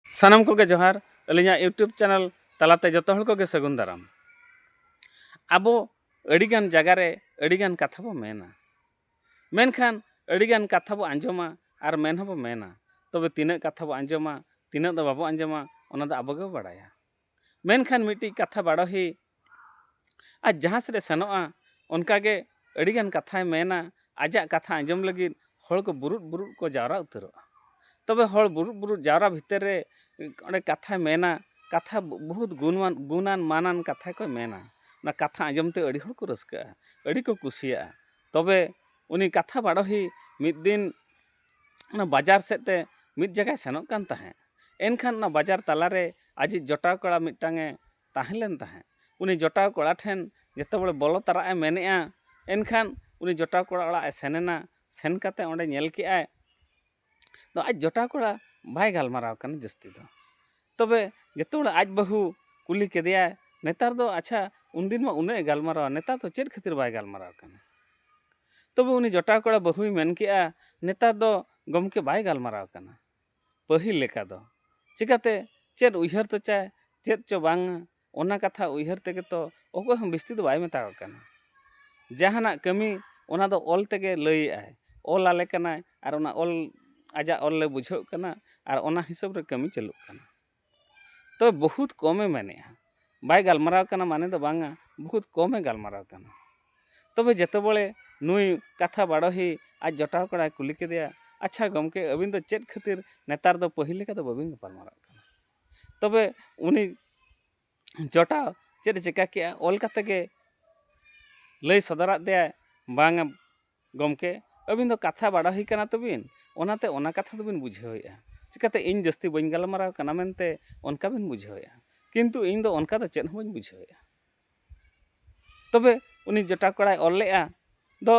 ᱥᱟᱱᱟᱢ ᱠᱚᱜᱮ ᱡᱚᱦᱟᱨ ᱟᱹᱞᱤᱧᱟᱜ ᱤᱭᱩᱴᱩᱵᱽ ᱪᱮᱱᱮᱞ ᱛᱟᱞᱟᱛᱮ ᱡᱚᱛᱚ ᱦᱚᱲ ᱠᱚᱜᱮ ᱥᱟᱹᱜᱩᱱ ᱫᱟᱨᱟᱢ ᱟᱵᱚ ᱟᱹᱰᱤᱜᱟᱱ ᱡᱟᱭᱜᱟ ᱨᱮ ᱟᱹᱰᱤᱜᱟᱱ ᱠᱟᱛᱷᱟ ᱵᱚ ᱢᱮᱱᱟ ᱢᱮᱱᱠᱷᱟᱱ ᱟᱹᱰᱤᱜᱟᱱ ᱠᱟᱛᱷᱟ ᱵᱚ ᱟᱸᱡᱚᱢᱟ ᱟᱨ ᱢᱮᱱ ᱦᱚᱸᱵᱚ ᱢᱮᱱᱟ ᱛᱚᱵᱮ ᱛᱤᱱᱟᱹᱜ ᱠᱟᱛᱷᱟ ᱵᱚ ᱟᱸᱡᱚᱢᱟ ᱛᱤᱱᱟᱹᱜ ᱫᱚ ᱵᱟᱵᱚ ᱟᱸᱡᱚᱢᱟ ᱚᱱᱟ ᱫᱚ ᱟᱵᱚ ᱜᱮᱵᱚ ᱵᱟᱲᱟᱭᱟ ᱢᱮᱱᱠᱷᱟᱱ ᱢᱤᱫᱴᱤᱡ ᱠᱟᱛᱷᱟ ᱵᱟᱰᱚᱦᱤ ᱟᱡ ᱡᱟᱦᱟᱸ ᱥᱮᱫ ᱮ ᱥᱮᱱᱚᱜᱼᱟ ᱚᱱᱠᱟᱜᱮ ᱟᱹᱰᱤᱜᱟᱱ ᱠᱟᱛᱷᱟᱭ ᱢᱮᱱᱟ ᱟᱡᱟᱜ ᱠᱟᱛᱷᱟ ᱟᱸᱡᱚᱢ ᱞᱟᱹᱜᱤᱫ ᱦᱚᱲ ᱠᱚ ᱵᱩᱨᱩᱫ ᱵᱩᱨᱩᱫ ᱠᱚ ᱡᱟᱣᱨᱟ ᱩᱛᱟᱹᱨᱚᱜᱼᱟ ᱛᱚᱵᱮ ᱦᱚᱲ ᱵᱩᱨᱩᱫ ᱵᱩᱨᱩᱫ ᱡᱟᱣᱨᱟ ᱵᱷᱤᱛᱟᱹᱨ ᱨᱮ ᱚᱸᱰᱮ ᱠᱟᱛᱷᱟᱭ ᱢᱮᱱᱟ ᱠᱟᱛᱷᱟ ᱵᱚᱦᱩᱛ ᱜᱩᱱᱟᱱ ᱜᱩᱱᱟᱱ ᱢᱟᱱᱟᱱ ᱠᱟᱛᱷᱟ ᱠᱚᱭ ᱢᱮᱱᱟ ᱚᱱᱟ ᱠᱟᱛᱷᱟ ᱟᱸᱡᱚᱢ ᱛᱮ ᱟᱹᱰᱤ ᱦᱚᱲ ᱠᱚ ᱨᱟᱹᱥᱠᱟᱹᱜᱼᱟ ᱟᱹᱰᱤ ᱠᱚ ᱠᱩᱥᱤᱭᱟᱜᱼᱟ ᱛᱚᱵᱮ ᱩᱱᱤ ᱠᱟᱛᱷᱟ ᱵᱟᱰᱚᱦᱤ ᱢᱤᱫ ᱫᱤᱱ ᱚᱱᱟ ᱵᱟᱡᱟᱨ ᱥᱮᱫ ᱛᱮ ᱢᱤᱫ ᱡᱟᱭᱜᱟᱭ ᱥᱮᱱᱚᱜ ᱠᱟᱱ ᱛᱟᱦᱮᱸᱫ ᱮᱱᱠᱷᱟᱱ ᱚᱱᱟ ᱵᱟᱡᱟᱨ ᱛᱟᱞᱟ ᱨᱮ ᱟᱡᱤᱡ ᱡᱚᱴᱟᱣ ᱠᱚᱲᱟ ᱢᱤᱫᱴᱟᱝ ᱮ ᱛᱟᱦᱮᱸ ᱞᱮᱱ ᱛᱟᱦᱮᱸᱫ ᱩᱱᱤ ᱡᱚᱴᱟᱣ ᱠᱚᱲᱟ ᱴᱷᱮᱱ ᱡᱚᱛᱚ ᱦᱚᱲ ᱵᱚᱞᱚ ᱛᱟᱨᱟᱜ ᱮ ᱢᱮᱱᱮᱫᱼᱟ ᱮᱱᱠᱷᱟᱱ ᱩᱱᱤ ᱡᱚᱴᱟᱣ ᱠᱚᱲᱟ ᱚᱲᱟᱜ ᱮ ᱥᱮᱱ ᱮᱱᱟ ᱥᱮᱱ ᱠᱟᱛᱮᱫ ᱚᱸᱰᱮ ᱧᱮᱞ ᱠᱮᱫᱼᱟᱭ ᱟᱡ ᱡᱚᱴᱟᱣ ᱠᱚᱲᱟ ᱵᱟᱭ ᱜᱟᱞᱢᱟᱨᱟᱣ ᱠᱟᱱᱟ ᱡᱟᱹᱥᱛᱤ ᱫᱚ ᱛᱚᱵᱮ ᱡᱚᱛᱚ ᱦᱚᱲ ᱟᱡ ᱵᱟᱹᱦᱩ ᱠᱩᱞᱤ ᱠᱮᱫᱮᱭᱟᱭ ᱱᱮᱛᱟᱨ ᱫᱚ ᱟᱪᱪᱷᱟ ᱩᱱᱫᱤᱱ ᱢᱟ ᱩᱱᱟᱹᱜ ᱮ ᱜᱟᱞᱢᱟᱨᱟᱣᱟ ᱱᱮᱛᱟᱨ ᱫᱚ ᱪᱮᱫ ᱠᱷᱟᱹᱛᱤᱨ ᱵᱟᱭ ᱜᱟᱞᱢᱟᱨᱟᱣ ᱠᱟᱱᱟ ᱛᱚᱵᱮ ᱩᱱᱤ ᱡᱚᱴᱟᱣ ᱠᱚᱲᱟ ᱵᱟᱹᱦᱩᱭ ᱢᱮᱱ ᱠᱮᱜᱼᱟ ᱱᱮᱛᱟᱨ ᱫᱚ ᱜᱚᱢᱠᱮ ᱵᱟᱭ ᱜᱟᱞᱢᱟᱨᱟᱣ ᱠᱟᱱᱟ ᱯᱟᱹᱦᱤᱞ ᱞᱮᱠᱟ ᱫᱚ ᱪᱤᱠᱟᱹᱛᱮ ᱪᱮᱫ ᱩᱭᱦᱟᱹᱨ ᱛᱚᱪᱟᱭ ᱪᱮᱫ ᱪᱚ ᱵᱟᱝᱟ ᱚᱱᱟ ᱠᱟᱛᱷᱟ ᱩᱭᱦᱟᱹᱨ ᱛᱮᱜᱮ ᱛᱚ ᱚᱠᱚᱭ ᱦᱚᱸ ᱵᱤᱥᱛᱤ ᱫᱚ ᱵᱟᱭ ᱢᱮᱛᱟ ᱠᱚ ᱠᱟᱱᱟ ᱡᱟᱦᱟᱱᱟᱜ ᱠᱟᱹᱢᱤ ᱚᱱᱟ ᱫᱚ ᱚᱞ ᱛᱮᱜᱮ ᱞᱟᱹᱭᱮᱫᱟᱭ ᱚᱞ ᱟᱞᱮ ᱠᱟᱱᱟᱭ ᱟᱨ ᱚᱱᱟ ᱚᱞ ᱟᱡᱟᱜ ᱚᱞ ᱞᱮ ᱵᱩᱡᱷᱟᱹᱣ ᱠᱟᱱᱟ ᱟᱨ ᱚᱱᱟ ᱦᱤᱥᱟᱹᱵ ᱨᱮ ᱠᱟᱹᱢᱤ ᱪᱟᱹᱞᱩᱜ ᱠᱟᱱᱟ ᱛᱚ ᱵᱚᱦᱩᱛ ᱠᱚᱢᱮ ᱢᱮᱱᱮᱫᱼᱟ ᱵᱟᱭ ᱜᱟᱞᱢᱟᱨᱟᱣ ᱠᱟᱱᱟ ᱢᱟᱱᱮ ᱫᱚ ᱵᱟᱝᱟ ᱵᱚᱦᱩᱛ ᱠᱚᱢᱮ ᱜᱟᱞᱢᱟᱨᱟᱣ ᱠᱟᱱᱟ ᱛᱚᱵᱮ ᱡᱚᱛᱚ ᱵᱚᱞᱮ ᱱᱩᱭ ᱠᱟᱛᱷᱟ ᱵᱟᱰᱚᱦᱤ ᱟᱡ ᱡᱚᱴᱟᱣ ᱠᱚᱲᱟᱭ ᱠᱩᱞᱤ ᱠᱮᱫᱮᱭᱟ ᱟᱪᱪᱷᱟ ᱜᱚᱢᱠᱮ ᱟᱹᱵᱤᱱ ᱫᱚ ᱪᱮᱫ ᱠᱷᱟᱹᱛᱤᱨ ᱱᱮᱛᱟᱨ ᱫᱚ ᱯᱟᱹᱦᱤᱞ ᱞᱮᱠᱟ ᱫᱚ ᱵᱟᱹᱵᱤᱱ ᱜᱟᱯᱟᱞᱢᱟᱨᱟᱜ ᱠᱟᱱᱟ ᱛᱚᱵᱮ ᱩᱱᱤ ᱡᱚᱴᱟ ᱪᱮᱫᱼᱮ ᱪᱮᱠᱟ ᱠᱮᱫᱼᱟ ᱚᱞ ᱠᱟᱛᱮ ᱜᱮ ᱞᱟᱹᱭ ᱥᱚᱫᱚᱨᱟᱫ ᱫᱮᱭᱟᱭ ᱵᱟᱝᱟ ᱜᱚᱢᱠᱮ ᱟᱹᱵᱤᱱ ᱫᱚ ᱠᱟᱛᱷᱟ ᱵᱟᱲᱟ ᱦᱩᱭ ᱠᱟᱱᱟ ᱛᱟᱹᱵᱤᱱ ᱚᱱᱟᱛᱮ ᱚᱱᱟ ᱠᱟᱛᱷᱟ ᱫᱚᱵᱤᱱ ᱵᱩᱡᱷᱟᱹᱣᱮᱫᱼᱟ ᱪᱮᱠᱟᱛᱮ ᱤᱧ ᱡᱟᱹᱥᱛᱤ ᱵᱟᱹᱧ ᱜᱟᱞᱢᱟᱨᱟᱣ ᱠᱟᱱᱟ ᱢᱮᱱᱛᱮ ᱚᱱᱠᱟ ᱵᱤᱱ ᱵᱩᱡᱷᱟᱹᱣᱮᱫᱼᱟ ᱠᱤᱱᱛᱩ ᱤᱧ ᱫᱚ ᱚᱱᱠᱟ ᱫᱚ ᱪᱮᱫ ᱦᱚᱸ ᱵᱟᱹᱧ ᱵᱩᱡᱷᱟᱹᱣᱮᱫᱼᱟ ᱛᱚᱵᱮ ᱩᱱᱤ ᱡᱚᱴᱟᱣ ᱠᱚᱲᱟᱭ ᱚᱞ ᱞᱮᱫᱼᱟ ᱫᱚ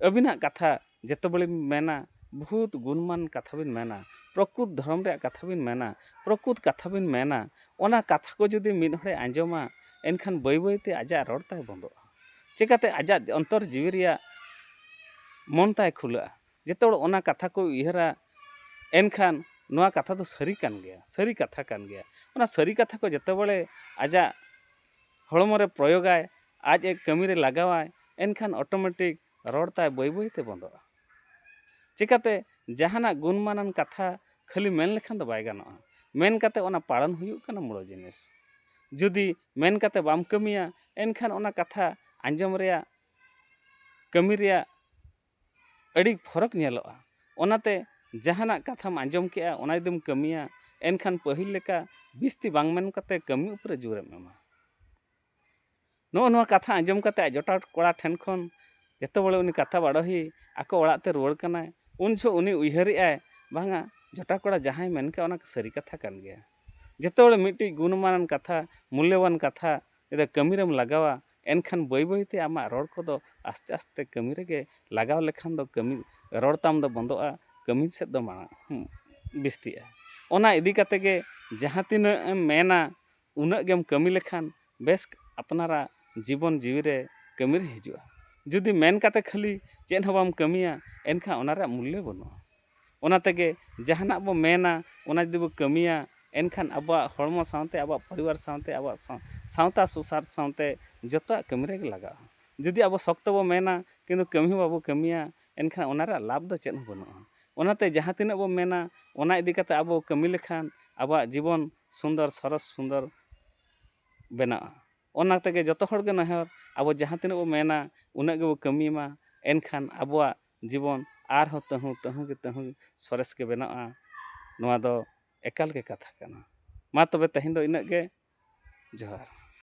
ᱟᱹᱵᱤᱱᱟᱜ ᱠᱟᱛᱷᱟ ᱡᱚᱛᱚ ᱵᱮᱲᱮᱢ ᱢᱮᱱᱟ ᱵᱚᱦᱩᱛ ᱜᱩᱱᱢᱟᱱ ᱠᱟᱛᱷᱟ ᱵᱤᱱ ᱢᱮᱱᱟ ᱯᱨᱚᱠᱩᱛ ᱫᱷᱚᱨᱚᱢ ᱨᱮᱭᱟᱜ ᱠᱟᱛᱷᱟ ᱵᱤᱱ ᱢᱮᱱᱟ ᱯᱨᱚᱠᱩᱛ ᱠᱟᱛᱷᱟ ᱵᱤᱱ ᱢᱮᱱᱟ ᱚᱱᱟ ᱠᱟᱛᱷᱟ ᱠᱚ ᱡᱩᱫᱤ ᱢᱤᱫ ᱦᱚᱲᱮ ᱟᱸᱡᱚᱢᱟ ᱮᱱᱠᱷᱟᱱ ᱵᱟᱹᱭ ᱵᱟᱹᱭ ᱛᱮ ᱟᱡᱟᱜ ᱨᱚᱲ ᱛᱟᱭ ᱵᱚᱱᱫᱚᱜᱼᱟ ᱪᱤᱠᱟᱹᱛᱮ ᱟᱡᱟᱜ ᱚᱱᱛᱚᱨ ᱡᱤᱣᱤ ᱨᱮᱭᱟᱜ ᱢᱚᱱ ᱛᱟᱭ ᱠᱷᱩᱞᱟᱹᱜᱼᱟ ᱡᱚᱛᱚ ᱦᱚᱲ ᱚᱱᱟ ᱠᱟᱛᱷᱟ ᱠᱚ ᱩᱭᱦᱟᱹᱨᱟ ᱮᱱᱠᱷᱟᱱ ᱱᱚᱣᱟ ᱠᱟᱛᱷᱟ ᱫᱚ ᱥᱟᱹᱨᱤ ᱠᱟᱱ ᱜᱮᱭᱟ ᱥᱟᱹᱨᱤ ᱠᱟᱛᱷᱟ ᱠᱟᱱ ᱜᱮᱭᱟ ᱚᱱᱟ ᱥᱟᱹᱨᱤ ᱠᱟᱛᱷᱟ ᱠᱚ ᱡᱚᱛᱚ ᱵᱟᱲᱮ ᱟᱡᱟᱜ ᱦᱚᱲᱢᱚ ᱨᱮ ᱯᱨᱚᱭᱳᱜᱟᱭ ᱟᱡ ᱮ ᱠᱟᱹᱢᱤ ᱨᱮ ᱞᱟᱜᱟᱣᱟᱭ ᱮᱱᱠᱷᱟᱱ ᱚᱴᱳᱢᱮᱴᱤᱠ ᱨᱚᱲ ᱛᱟᱭ ᱵᱟᱹᱭ ᱵᱟᱹᱭ ᱛᱮ ᱵᱚᱱᱫᱚᱜᱼᱟ ᱪᱤᱠᱟᱹᱛᱮ ᱡᱟᱦᱟᱱᱟᱜ ᱜᱩᱱᱢᱟᱱᱟᱱ ᱠᱟᱛᱷᱟ ᱠᱷᱟᱹᱞᱤ ᱢᱮᱱ ᱞᱮᱠᱷᱟᱱ ᱫᱚ ᱵᱟᱭ ᱜᱟᱱᱚᱜᱼᱟ ᱢᱮᱱ ᱠᱟᱛᱮ ᱚᱱᱟ ᱯᱟᱲᱚᱱ ᱦᱩᱭᱩᱜ ᱠᱟᱱᱟ ᱢᱩᱬ ᱡᱤᱱᱤᱥ ᱡᱩᱫᱤ ᱢᱮᱱ ᱠᱟᱛᱮ ᱵᱟᱢ ᱠᱟᱹᱢᱤᱭᱟ ᱮᱱᱠᱷᱟᱱ ᱚᱱᱟ ᱠᱟᱛᱷᱟ ᱟᱸᱡᱚᱢ ᱨᱮᱭᱟᱜ ᱠᱟᱹᱢᱤ ᱨᱮᱭᱟᱜ ᱟᱹᱰᱤ ᱯᱷᱚᱨᱚᱠ ᱧᱮᱞᱚᱜᱼᱟ ᱚᱱᱟᱛᱮ ᱡᱟᱦᱟᱱᱟᱜ ᱠᱟᱛᱷᱟᱢ ᱟᱸᱡᱚᱢ ᱠᱮᱜᱼᱟ ᱚᱱᱟ ᱡᱩᱫᱤᱢ ᱠᱟᱹᱢᱤᱭᱟ ᱮᱱᱠᱷᱟᱱ ᱯᱟᱹᱦᱤᱞ ᱞᱮᱠᱟ ᱵᱤᱥᱛᱤ ᱵᱟᱝ ᱢᱮᱱ ᱠᱟᱛᱮ ᱠᱟᱹᱢᱤ ᱩᱯᱨᱮ ᱡᱳᱨᱮᱢ ᱮᱢᱟ ᱱᱚᱜᱼᱚ ᱱᱚᱣᱟ ᱠᱟᱛᱷᱟ ᱟᱸᱡᱚᱢ ᱠᱟᱛᱮ ᱟᱡ ᱡᱚᱴᱟᱣ ᱠᱚᱲᱟ ᱴᱷᱮᱱ ᱠᱷᱚᱱ ᱡᱚᱛᱚ ᱵᱚᱞᱮ ᱩᱱᱤ ᱠᱟᱛᱷᱟ ᱵᱟᱰᱚᱦᱤ ᱟᱠᱚ ᱚᱲᱟᱜ ᱛᱮ ᱨᱩᱣᱟᱹᱲ ᱠᱟᱱᱟᱭ ᱩᱱ ᱡᱚᱦᱚᱜ ᱩᱱᱤ ᱩᱭᱦᱟᱹᱨᱮᱜᱼᱟᱭ ᱵᱟᱝᱟ ᱡᱚᱴᱟᱣ ᱠᱚᱲᱟ ᱡᱟᱦᱟᱸᱭ ᱢᱮᱱ ᱠᱮᱜᱼᱟ ᱚᱱᱟ ᱥᱟᱹᱨᱤ ᱠᱟᱛᱷᱟ ᱠᱟᱱ ᱜᱮᱭᱟ ᱡᱚᱛᱚ ᱦᱚᱲ ᱢᱤᱫᱴᱤᱡ ᱜᱩᱱᱢᱟᱱᱟᱱ ᱠᱟᱛᱷᱟ ᱢᱩᱞᱞᱚᱵᱟᱱ ᱠᱟᱛᱷᱟ ᱡᱩᱫᱤ ᱠᱟᱹᱢᱤ ᱨᱮᱢ ᱞᱟᱜᱟᱣᱟ ᱮᱱᱠᱷᱟᱱ ᱵᱟᱹᱭ ᱵᱟᱹᱭ ᱛᱮ ᱟᱢᱟᱜ ᱨᱚᱲ ᱠᱚᱫᱚ ᱟᱥᱛᱮ ᱟᱥᱛᱮ ᱠᱟᱹᱢᱤ ᱨᱮᱜᱮ ᱞᱟᱜᱟᱣ ᱞᱮᱠᱷᱟᱱ ᱫᱚ ᱠᱟᱹᱢᱤ ᱨᱚᱲ ᱛᱟᱢ ᱫᱚ ᱵᱚᱱᱫᱚᱜᱼᱟ ᱠᱟᱹᱢᱤ ᱥᱮᱫ ᱫᱚ ᱢᱟᱲᱟᱝ ᱵᱤᱥᱛᱤᱜᱼᱟ ᱚᱱᱟ ᱤᱫᱤ ᱠᱟᱛᱮ ᱜᱮ ᱡᱟᱦᱟᱸ ᱛᱤᱱᱟᱹᱜ ᱮᱢ ᱢᱮᱱᱟ ᱩᱱᱟᱹᱜ ᱜᱮᱢ ᱠᱟᱹᱢᱤ ᱞᱮᱠᱷᱟᱱ ᱵᱮᱥ ᱟᱯᱱᱟᱨᱟᱜ ᱡᱤᱵᱚᱱ ᱡᱤᱣᱤ ᱨᱮ ᱠᱟᱹᱢᱤ ᱨᱮ ᱦᱤᱡᱩᱜᱼᱟ ᱡᱩᱫᱤ ᱢᱮᱱ ᱠᱟᱛᱮ ᱠᱷᱟᱹᱞᱤ ᱪᱮᱫ ᱦᱚᱸ ᱵᱟᱢ ᱠᱟᱹᱢᱤᱭᱟ ᱮᱱᱠᱷᱟᱱ ᱚᱱᱟ ᱨᱮᱭᱟᱜ ᱢᱩᱞᱞᱚ ᱵᱟᱹᱱᱩᱜᱼᱟ ᱚᱱᱟ ᱛᱮᱜᱮ ᱡᱟᱦᱟᱱᱟᱜ ᱵᱚ ᱢᱮᱱᱟ ᱚᱱᱟ ᱡᱩᱫᱤ ᱵᱚ ᱠᱟᱹᱢᱤᱭᱟ ᱮᱱᱠᱷᱟᱱ ᱟᱵᱚᱣᱟᱜ ᱦᱚᱲᱢᱚ ᱥᱟᱶᱛᱮ ᱟᱵᱚᱣᱟᱜ ᱯᱚᱨᱤᱵᱟᱨ ᱥᱟᱶᱛᱮ ᱟᱵᱚᱣᱟᱜ ᱥᱟᱶᱛᱟ ᱥᱩᱥᱟᱨ ᱥᱟᱶᱛᱮ ᱡᱚᱛᱚᱣᱟᱜ ᱠᱟᱹᱢᱤ ᱨᱮᱜᱮ ᱞᱟᱜᱟᱜᱼᱟ ᱡᱩᱫᱤ ᱟᱵᱚ ᱥᱚᱠᱛᱚ ᱵᱚ ᱢᱮᱱᱟ ᱠᱤᱱᱛᱩ ᱠᱟᱹᱢᱤ ᱦᱚᱸ ᱵᱟᱵᱚ ᱠᱟᱹᱢᱤᱭᱟ ᱮᱱᱠᱷᱟᱱ ᱚᱱᱟ ᱨᱮᱭᱟᱜ ᱞᱟᱵᱷ ᱫᱚ ᱪᱮᱫ ᱦᱚᱸ ᱵᱟᱹᱱᱩᱜᱼᱟ ᱚᱱᱟᱛᱮ ᱡᱟᱦᱟᱸ ᱛᱤᱱᱟᱹᱜ ᱵᱚ ᱢᱮᱱᱟ ᱚᱱᱟ ᱤᱫᱤ ᱠᱟᱛᱮ ᱟᱵᱚ ᱠᱟᱹᱢᱤ ᱞᱮᱠᱷᱟᱱ ᱟᱵᱚᱣᱟᱜ ᱡᱤᱵᱚᱱ ᱥᱩᱱᱫᱚᱨ ᱥᱚᱨᱚᱥ ᱥᱩᱱᱫᱚᱨ ᱵᱮᱱᱟᱜᱼᱟ ᱚᱱᱟ ᱛᱮᱜᱮ ᱡᱚᱛᱚ ᱦᱚᱲ ᱜᱮ ᱱᱮᱦᱚᱨ ᱟᱵᱚ ᱡᱟᱦᱟᱸ ᱛᱤᱱᱟᱹᱜ ᱵᱚ ᱢᱮᱱᱟ ᱩᱱᱟᱹᱜ ᱜᱮᱵᱚ ᱠᱟᱹᱢᱤ ᱢᱟ ᱮᱱᱠᱷᱟᱱ ᱟᱵᱚᱣᱟᱜ ᱡᱤᱵᱚᱱ ᱟᱨᱦᱚᱸ ᱛᱟᱹᱦᱩ ᱛᱟᱹᱦᱩ ᱜᱮ ᱛᱟᱹᱦᱩ ᱥᱚᱨᱮᱥ ᱜᱮ ᱵᱮᱱᱟᱜᱼᱟ ᱱᱚᱣᱟ ᱫᱚ ᱮᱠᱟᱞ ᱜᱮ ᱠᱟᱛᱷᱟ ᱠᱟᱱᱟ ᱢᱟ ᱛᱚᱵᱮ ᱛᱮᱦᱮᱧ ᱫᱚ ᱤᱱᱟᱹᱜ ᱜᱮ ᱡᱚᱦᱟᱨ